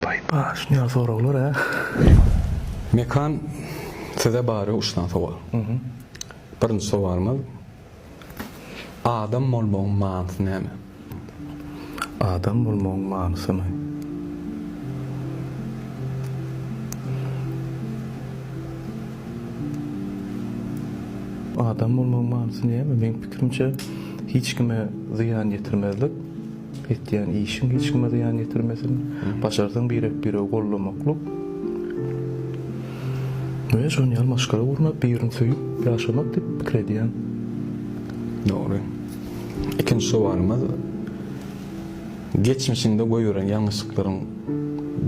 Baýbaa şunýal soraglar hä. Mekan size bary üç sany sowal. Birinji sowalymyz Adam bolmagyň manysy näme? Adam bolmagyň manysymy? Adam bolmagyň manysy näme? Meň pikirimçe hiç kime zyýan ýetirmezlik. Etýän işiň hiç kime zyýan ýetirmesin. Başarsaň birek-biregi gollamaklyk we şonuň ýaly maşgala gurnap, birini söýüp ýaşamak diýip pikir edýän. Dogry. Ikinji sowalymyz, Geçmişiňde goýberen ýalňyşlyklaryň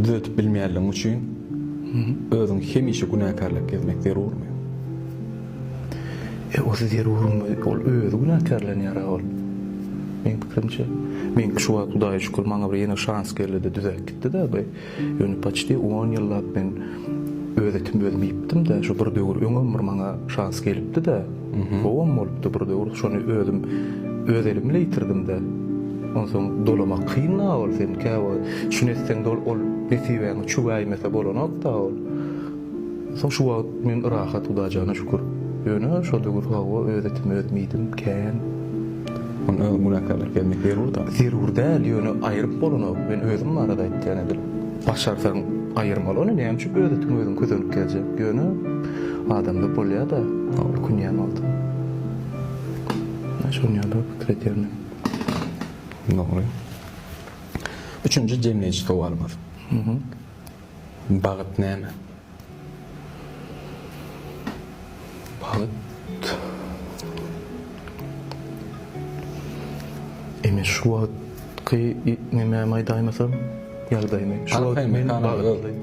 düzetip bilmeýänligiň üçin özüň hemişe günäkärläp gezmek zerurmy? E, o siz zerurmy? Ol özi günäkärlenýär-ä ol. Meň pikirimçe, meňki şu wagt Hudaýa şükür maňa bir ýene şans geldi-de düzäp gitdi-dä bu. Ýöne paçti on ýyllap men öz etim özüm iýipdim-dä. Şu bir döwür öňem bir maňa şans gelipdi-dä. Gowam bolupdy bir döwür. Şony özüm öz elim bile ýitirdim-dä. Onsoň dolamak kyn-a ol. Sen käwagt şuny etseň-de ol nesibäňe çüwäýmese bolanok-da ol. Soň şu wagt men rahat Hudajana şükür. Ýöne şol döwür hawa öz etimi özüm iýdim kän. Muny öz günäkärlik bermek zerur dal. Zerur däl ýöne aýryp bolanok men özüm barada aýtýan edil. Başarsaň aýyrma ol ony näme üçin öz etiňi özüň közenip gezjek ýöne adamda bolýada ökünýän wagtym. Men şon ýaly pikir edýän men. Dogry. Üçünji jemleýji sowalymyz. Bagt näme? Bagt? Ine şu wagtky nemämi aýdaýmasam, ýagdaýymy. Şu wagt men bagtly.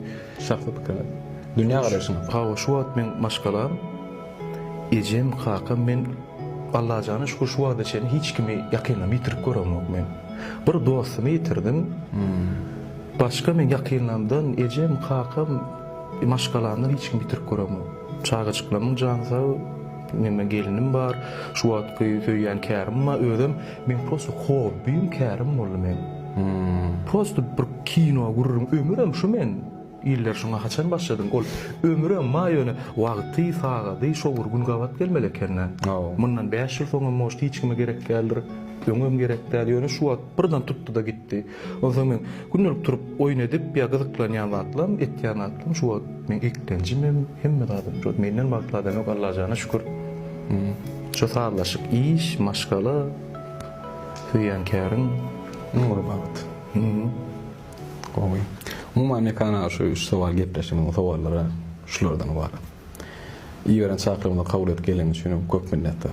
Şahsy pikiriňiz. Dünýä garaýşyňyz. Hawa, şu wagt meň maşgalam, ejem, kakam. Men Allajana şükür şu wagta çenli hiç kimi ýakynymdan ýitirip göremok men. Bir dostumy ýitirdim. Başga meň ýakynlarymdan, ejem, kakam, maşgalamdan hiç kim ýitirip göremok. Çagajyklarymyň jany sag, meniň gelinim bar, şu wagtky söýýän kärim bar, özem meň prosto hobbim kärim boldy meň. Prosto bir kino gürrüň, ömürem şu men, iller şuňa haçan başladyň, ol ömürem ma ýöne wagty, sagady şo bir gün gabat gelmeli ekendä. Mundan bäş ýyl soňam может hiç kime gerek däldir, öňem gerek däl, ýöne şu wagt birden tutdy-da gitdi. Onsoň men gündelik turup oýun edip ýa gyzyklanýan zatlam, etýän zatlam şu wagt meň eklenjimem, hemme zadym şu wagt menden bagtly adam ýok Allajana şükür. Şu sazlaşyk, iş, maşgala, söýýän käriň iň uly bagt. Gowy. Umuman mekan aga şu üç sowal gepleşigiň sowallary şulardan ybarat. Iberen çaklygymyzy kabul edip geleniň üçin köp minnetdar.